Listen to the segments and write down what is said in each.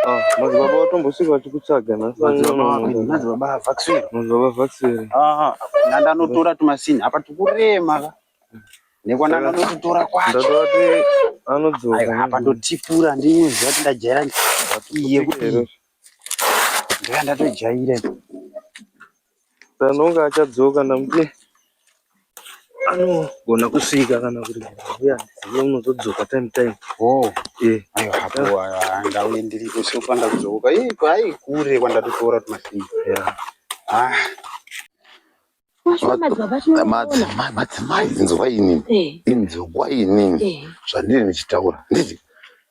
Ah, madzibaba vatombosvika vachikutsvaga nhasmadzibaba vaksiri madzibaba vaksiri ah, nandanotora tumasini apa tikurema ka nekwana ndanotitora kwachondatovati anodzoka apa ndotipura ndinoziva kuti ndajaira iye kuti ndoya ndatojaira Tanonga achadzoka ndamuti anogona kusvika kana kuti uya ndizive unozodzoka time time. Oh, eh. Ayo hapo ndauye ndiri kusi kufanda kudzoka. Eh, kwai kure kwandatotora tumasini. Yeah. Ah. Madzimai inzwa inini. Eh. Inzwa inini. Eh. Zvandiri ndichitaura. Ndizvi.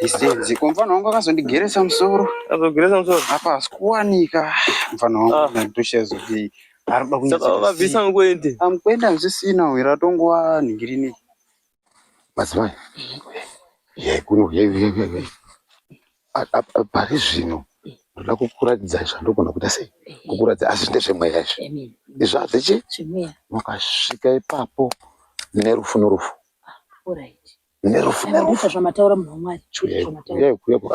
Distance. Kwa mfano wangu akazondigeresa musoro. Azogeresa musoro. Apa asikuwanika. Mfano wangu ah. natosha zoti. Arikuda kunyisa. Saka vabvisa ngoende. Amkwenda zvisina wira tongowa ningirini. Mazimai. Ye kuno ye ye ye. Pari zvino ndoda kukuratidza zvandogona kuita sei kukuratidza asi ndezvemweya izvi izvo hazvichi mukasvika ipapo nerufu norufu ah, nerufu nerufu zvamataura munhu wamwari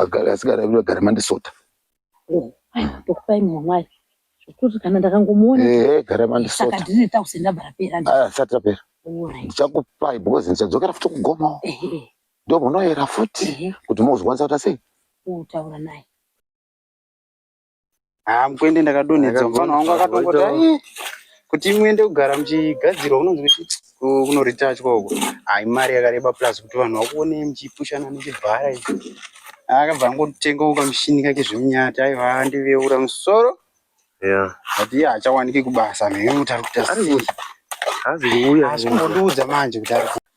agara asigara agara mandisota tokupai munhu wamwari zvekuti kana ndakangomuona gara mandisota saka ndine tausi ndabva rapera ndisati rapera ndichakupai because ndichadzokera futi kugoma ndomunoyera futi kuti mozokwanisa kuita sei kutaura naye haa mukwende ndakadonhedza mufana wangu akatongoti ai kuti muende kugara muchigadzirwa kunonzi kunoritachwa uko hai mari yakareba plus kuti vanhu vakuonei muchipushana nechibhara ichi akabva angotengawo kamushini kake zvemunyati aiva ndiveura musoro Yeah. but iye hachawaniki kubasa mhekuti ari kuita sei Hazi kuuya. asi kungondiudza manje kuti ari ku-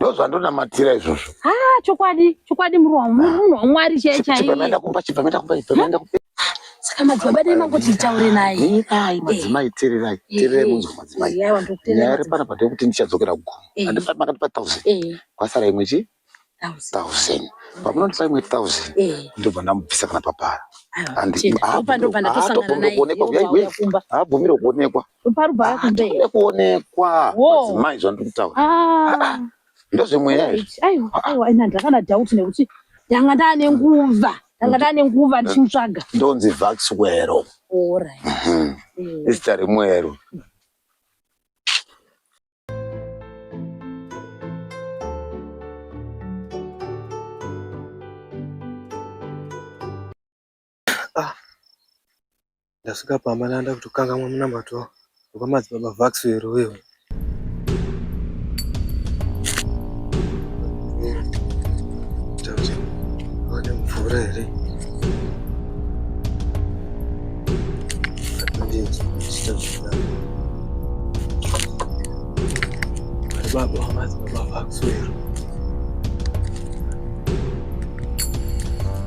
ndozvandonamatira izvozvo ah chokwadi chokwadi murwa munhu wamwari chaiye chaiyeenda kumba chibva maenda kumba ibva maenda kumba saka madzibaba dai mangoti nditaure naye teerai madzimai teererai teererai munzwa madzimai nyaya iri panapa ndeyekuti ndichadzokera kugomo handifani makandipa thousand kwasara imwe chii thousand pamunondipa imwe thousand ndobva ndamubvisa kana papara handibvumire kuonekwa parubhara kunze here kuonekwa madzimai zvandiri kutaura ah. ndozvemweya aiwa ina ndakana doubt nekuti ndanga ndane nguva ndanga ndane nguva ndichimutsvaga ndonzi vaxwero mhm. eh. izita remwero Ah. Ndasvika pamba ndanda kutokangamwa munamato wekwamadzibaba Vaxo here uyo. Vane mvura here? Baba wamadzibaba Vaxo here?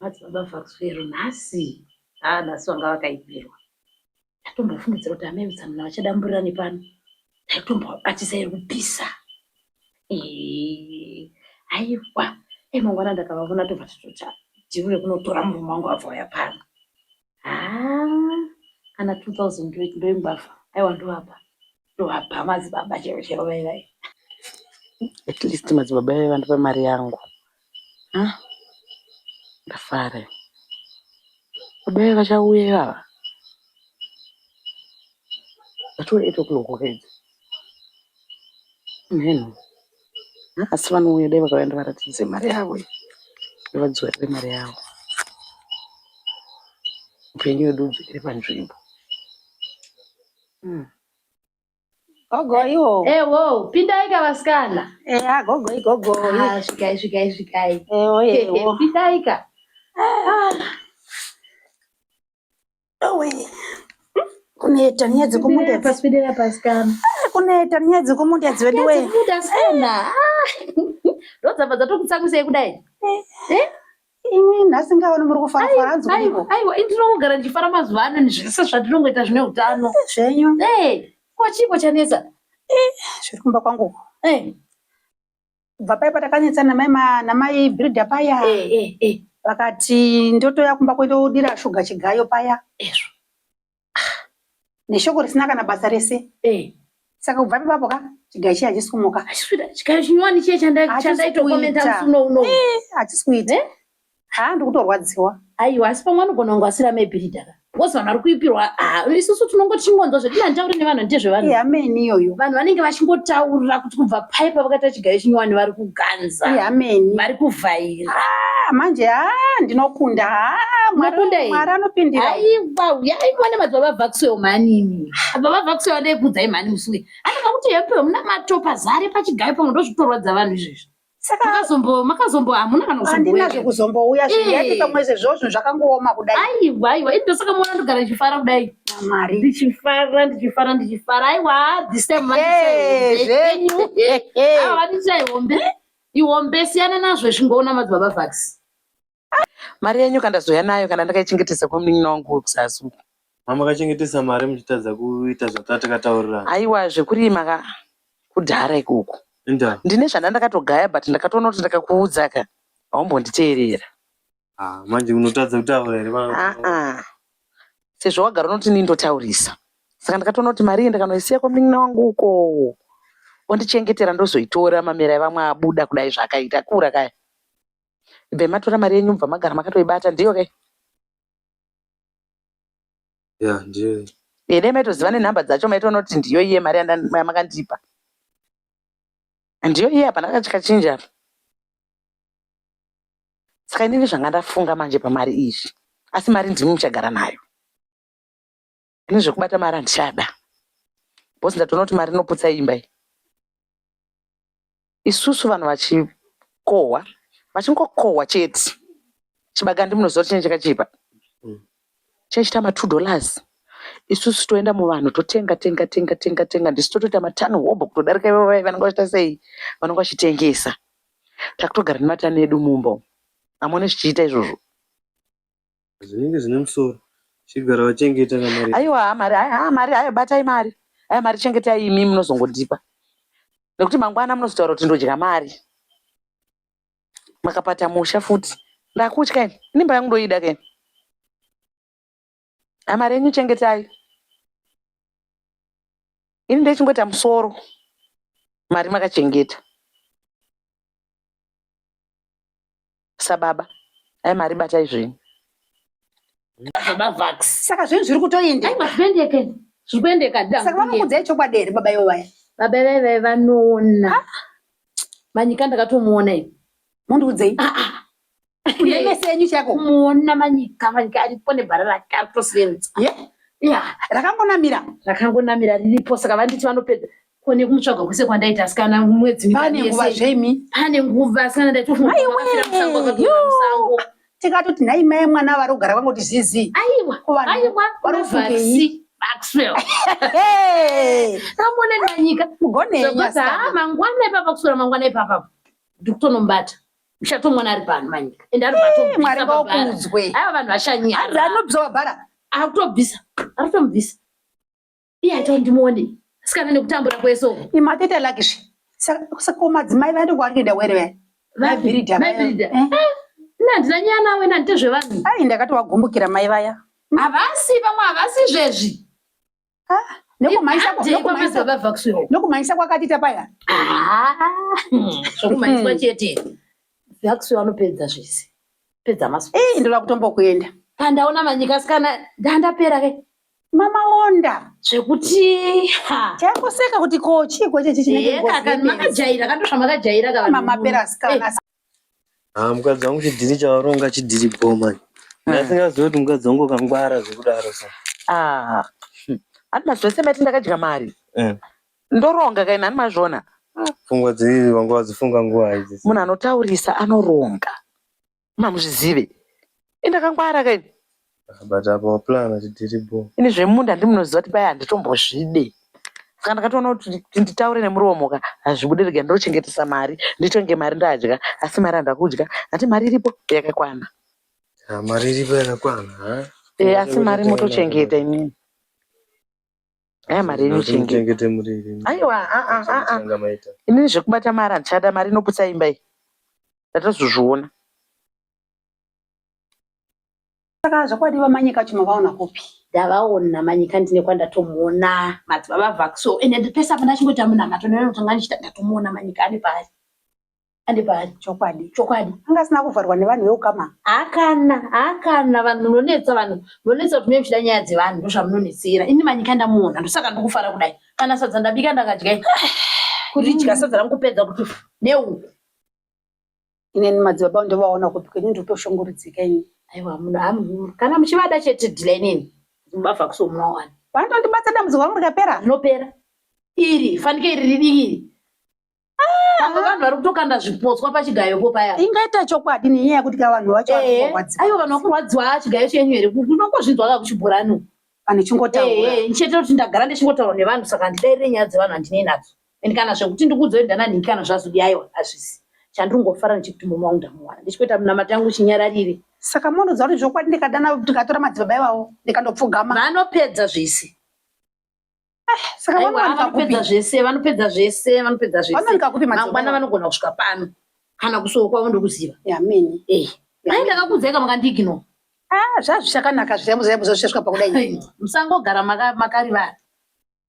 Mhatso baba Fakuswero nhasi haa nhasi vanga vakaipirwa ndatombofungidzira kuti amai mutsamana vachadamburirane pano ndaitombobatisa iri kupisa Eh, aiwa emangwana ndakavavona tobva tatocha ndivure kunotora murume wangu abva uya pano haa kana 2000 ndoimbafa aiwa ndoapa ndoapa madzibaba chero chero vaivai at least madzibaba vaiva ndipa mari yangu ha ndafare baba vaiva chauye vava vatore eto kulokokedza mheno asi vanouya dai vakauya ndivaratidze mari yavo iyi ndivadzivirire mari yavo upenyu wedu udzikire panzvimbo Hmm. Gogo iwo. Eh, wo, pindai ka vasikana. Eh, ah, gogo igogo. Ah, svikai svikai svikai. Eh, wo, eh, wo. Pindai ka. Ah. kuneta nyaya dzekumunda paswidira pasikana ah, kuneta nyaya dzekumunda dziwedu we dzekuda sana ah, ndodzabva dzatokutsamwisei kudai eh, eh? imi nhasi ngaoni muri kufara fara hanzi aiwa aiwa ndinongogara ndichifara mazuva ano nezvese zvatinongoita zvine utano eh, zvenyu ko chiiko chanetsa zviri kumba kwangu kubva paya patakanetsana namai bhirida paya eh, eh, eh. vakati ndotoya kumba kwendodira shuga chigayo paya ezvo ah, neshoko risina kana basa rese saka kubva pepapo ka chigayo chiye hachisi kumuka chigayo chinyowani chiye chandaitokomenta musi uno uno hachisi kuita haa ndikutorwadziwa aiwa asi pamwe anogona kunge asiri amebhiridha ka bcause vanhu vari kuipirwa ah, isusu tinongo tichingonzwa zvedu nanditaure nevanhu handite zvevanhu hameni iyoyo vanhu vanenge vachingotaurira kuti kubva pai pavakaita chigayo chinyowani vari kuganza hameni vari kuvhaira ah, manje ha ah, ndinokunda mwari anopindira aiwa uyai mwane madzibaba vakusewo manini baba vakusewo andekudzai mhani musuwe anonga kuti yepeo muna matopa zare pachigayo pamwe ndozvitorwadza vanhu izvezvi saka makazombo makazombo hamuna kana handina zvekuzombouya zviyati pamwe sezvozvo zvakangooma kudai aiwa aiwa indo saka mwana ndogara ndichifara kudai mwari ndichifara ndichifara ndichifara aiwa this time vandichaihombe ihombe siyana nazvo zvingoona madzibaba vax Mari yenyu kandazouya nayo kana ndakaichengetesa kwamunin'ina wangu wekuzazi uko. Mama kachengetesa mari muchitadza kuita zvatakataurirana. Haiwa zvekurima ka kudhara ikoko. Enda. Ndine zvandandakatogaya but ndakatoona kuti ndakakuudza ka haumbonditeerera. Ah, manje unotadza kutaura here mama? Ah ah. Sezvo wagara unoti nii ndotaurisa. Saka ndakatoona kuti mari iyi ndakanoisiya kwamunin'ina wangu uko. Ondichengetera ndozoitora mamera evamwe abuda kudai zvakaita kura kaya. ibvai matora mari yenyu mubva magara makatoibata ndiyo ke ya ndiyo e dai maitoziva nenhamba dzacho maitoona kuti ndiyo iye mari yamakandipa ndiyo iye hapana kachikachinja apa saka inini zvanga ndafunga manje pamari izvi asi mari ndimi muchagara nayo ini zvekubata mari handichada bcause ndatoona kuti mari inoputsa imba iyi isusu vanhu vachikohwa vachingokohwa chete chibagandi munoziva kuti chinenge chakachipa mm. chinenge chiita matwo dollars isusu toenda muvanhu totenga tenga tenga tenga tenga ndisu totoita matani hobho kutodarika ivo vai vanenge vachiita sei vanenge vachitengesa takutogara nematani edu mumba amone zvichiita izvozvo Zvinenge zvine musoro. Chigara wachengeta na mari. Aiwa haa mari haa haa mari hayo batai mari. Hayo mari chengetai imi munozongondipa. Nekuti mangwana munozotaura kuti ndodya mari. Makapata musha futi. Ndakutya ini. Ini mba yangu ndoida keni. Haa mari yenyu chengetai. Ini ndechingoita musoro. Mari makachengeta. sababa ai mari batai zvenyu saka zvinhu zviri kutoendesaka vanokudzai chokwadi here baba ivo vaya baba ivai vai vanoona ah. manyika ndakatomuona ivi mundiudzei ah, ah. kunemese yenyu chako muona manyika manyika aripo nebhara rake aritosevenza rakangonamira rakangonamira riripo saka vanditi vanopedza ko nekumutsvaga kwese kwandaita asikana mwedzi pane nguva zvemi pane nguva asikana ndaitomusango tikatoti nhai mai mwana vari kugara vangoti zizi aiwa aiwa varofungei Maxwell. Hey. Ramona nanyika. Mugone nyasa. Mangwana ipapa kusura mangwana ipapa. Ndikutonombata. Ushato mwana ari pano manyika. Ende ari pato. Mwari vakudzwe. Ava vanhu vashanyara. Adza anobisa wabhara. Akutobisa. Akutomubisa. iye aita ndimuone sikana nekutambura kwese uku imatete lake zve saka ko madzimai vaende kwavari kuenda were vaya vabhirida vabhirida eh? eh, nandina nyaya nawe nandite zvevanhu ai ndakati wagumbukira mai vaya havasi vamwe havasi zvezvi ah, nokumhanyisa kwakatita paya ah, zvokumhanyiswa hmm. chete vaxi vanopedza zvese pedza masu eh, ndoda kutombokuenda pandaona manyika sikana ndandapera ke mama wonda zvekuti chakuseka kuti ko chiiko chechi chinekakamakajayira katosva makajayira kamamaperasikana eh. ah, mukadzi wangu chidhiri chavaronga chidhiri bomani hmm. asingazivi kuti mukadzi wangu kangwara zvekudaro sa ah, hmm. atina zvese mati ndakadya mari eh. ndoronga kaini ani mazvona pfungwa dzii vanga vadzifunga nguva idzi munhu anotaurisa anoronga mamuzvizive ini ndakangwara ka ini but apa waplan kuti tiri bo ini zvemunda ndimunoziva kuti paya handitombozvide saka ndakatoona kuti nditaure nemuromo ka hazvibude rega ndinochengetesa mari nditonge mari ndadya asi mari handida kudya hati mari iripo yakakwana ah, mari iripo yakakwana eh, asi mari motochengeta imini Aya mari yenyu chengeta. Chengete muri iri. Aiwa, a a a a. Changa maita. Inini zvekubata mari handichada mari inoputsa imba iyi. Ndatozozviona. Saka zvokwadi vamanyika chuma vaona kupi? ndavaona manyika ndine kwandatomuona madzibaba vaxo and pese apo ndachingoita munamato ndinotanga ndichita ndatomuona manyika ari pari andibari chokwadi chokwadi anga asina kuvharwa nevanhu veukama hakana hakana vanhu munonetsa vanhu munonetsa kuti mune muchida nyaya dzevanhu ndozvamunonetsera ini manyika ndamuona ndosaka ndikufara kudai kana sadza ndabika ndakadya kuti dya sadza rangu kupedza kuti neuku ineni madzibaba ndovaona kupi kwenyu nditoshongoridzika ini aiwa muno amuhuru kana muchivada chete dhila inini mubava kusomunawana vanotondibata dambudziko rangu rikapera rinopera iri fanike iri ridikiri pamwe vanhu vari kutokanda zvipotswa pachigayopo paya ingaita chokwadi nenyaya yekuti ka vanhu vacho vari Eh, kurwadziwa. aiwa vanhu vakurwadziwa ah, chigayo chenyu here unongozvinzwa ka kuchibhorani vanhu chingotaura Eh, ndichete kuti ndagara ndichingotaura nevanhu saka handidairire nyaya dzevanhu handinei nadzo and kana zvekuti ndikuudzoi ndananhingi kana zvazodi aiwa hazvisi chandiri kungofara ndichikuti murume wangu ndamuwana ndichikuita munamata yangu chinyararire saka monoziva kuti zvokwadi ndikadana ndikatora madzibaba ivavo ndikandopfugama vanopedza zvese saka Aiwa, vanowanika kupi vanopedza zvese vanopedza zvese vanopedza zvese vanowanika kupi mangwana madzimai vanogona kusvika pano kana kusuwo kwavo ndokuziva yamini Eh, dai ndakakudzai kama kandigino ah zvazvichakanaka zvirembo zvirembo zvazvichasvika pakudai musangogara maka- makarivara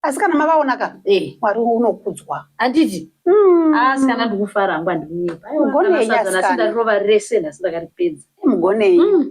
asi kana mavaonaka Eh, mwari unokudzwa handiti Mm. asi kana ndikufara hangu andikunyepa Aiwa, Mugonei, kana sadza nhasi asikana. ndarirova rese nhasi ndakaripedza mugonei Mm.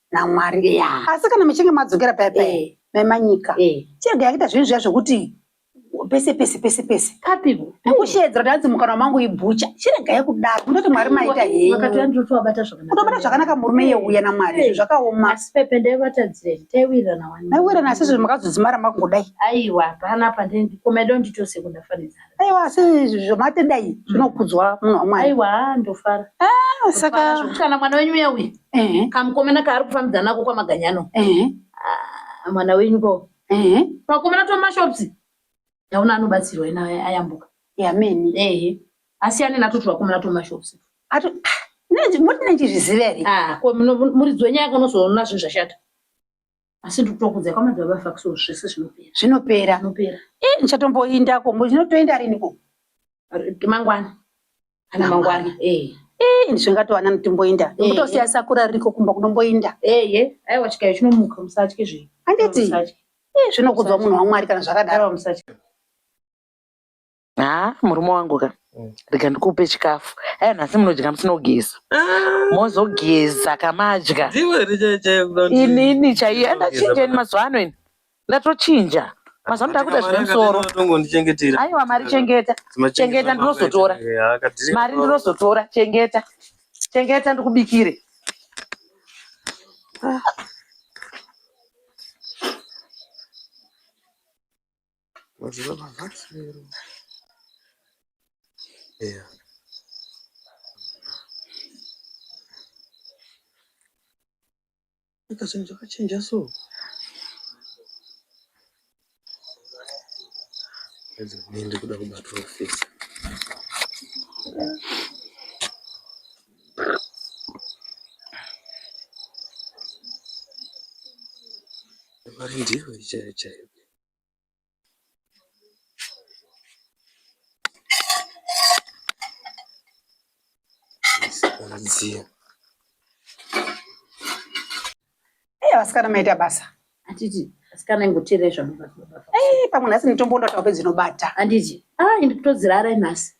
naMwari yeah. asi kana muchinge madzokera paya paya eh. memanyika eh. chirega yakuita zvinhu zviya zvekuti pese pese pese pese kapipo nekusheedzera kuti hanzi mukanwa mangu ibhucha chirega yekudaro kundoti mwari maita henyutobata zvakanaka murume yeuya namwari izvo zvakaoma maiwirana asi zvinhu makazodzimara makungodai aiwa panapa ndikomedo nditose kundafanidza aiwa asi zvamatenda iyi mm. zvinokudzwa munhu wamwari aiwa ndofara ah, saka kana mwana wenyu uya uya kamukomana kaari kufambidza nako kwamaganyano ah, mwana wenyu ko pakomana tomashops ndaona anobatsirwa ena ayambuka yamene ehe asiyane nato twakomana tomashops ah, moti nechizviziva here ko muridzi wenyaya kanozoona zvinhu zvashata asi ndikutokudza kwamadzibaba vafa so zvese zvinopera zvinopera zvinopera eh ndichatomboinda ko ndinotoenda rini ko mangwana kana mangwana eh eh ndizvingatowana nditomboinda ndikutosiya eh. sakura ririko kumba kunomboinda eh eh aiwa chikayo chinomuka musatye zve handiti eh zvinokudzwa munhu wamwari kana zvakadaro musatye haa murume wangu ka mm. rega ndikupe chikafu aya nhasi munodya musina kugeza ah. mozogeza kamadya inini chaiyo andachinja ini mazuva ano ini ndatochinja mazuva ndakuda zvine musoro aiwa mari chengeta chengeta ndinozotora mari ndinozotora chengeta chengeta ndikubikire ah. Mazuva mavasero. Yeah. Eka zvinhu zvakachinja so. Pedzi kuende kuda kubatwa office. Vari ndivo chaivo chaivo. Anzia. Hey, vasikana maita basa. Atiti, vasikana ingoteerera zvamunobatwa. Eh, pamwe nhasi mitombo ndatawa pedzinobata. Anditi, ah, ndikutodzirara nhasi.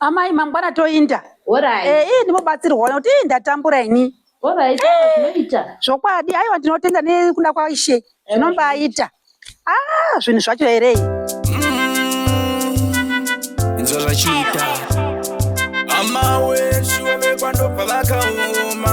amai mangwana toinda Alright. Eh, ii ndimobatsirwa nekuti ii ndatambura ini Alright, zvinoita. zvokwadi aiwa ndinotenda nekuda kwaishe zvinombaita ah zvinhu zvacho here nzvavachiita amaweshuwa vekwandobva vakaoma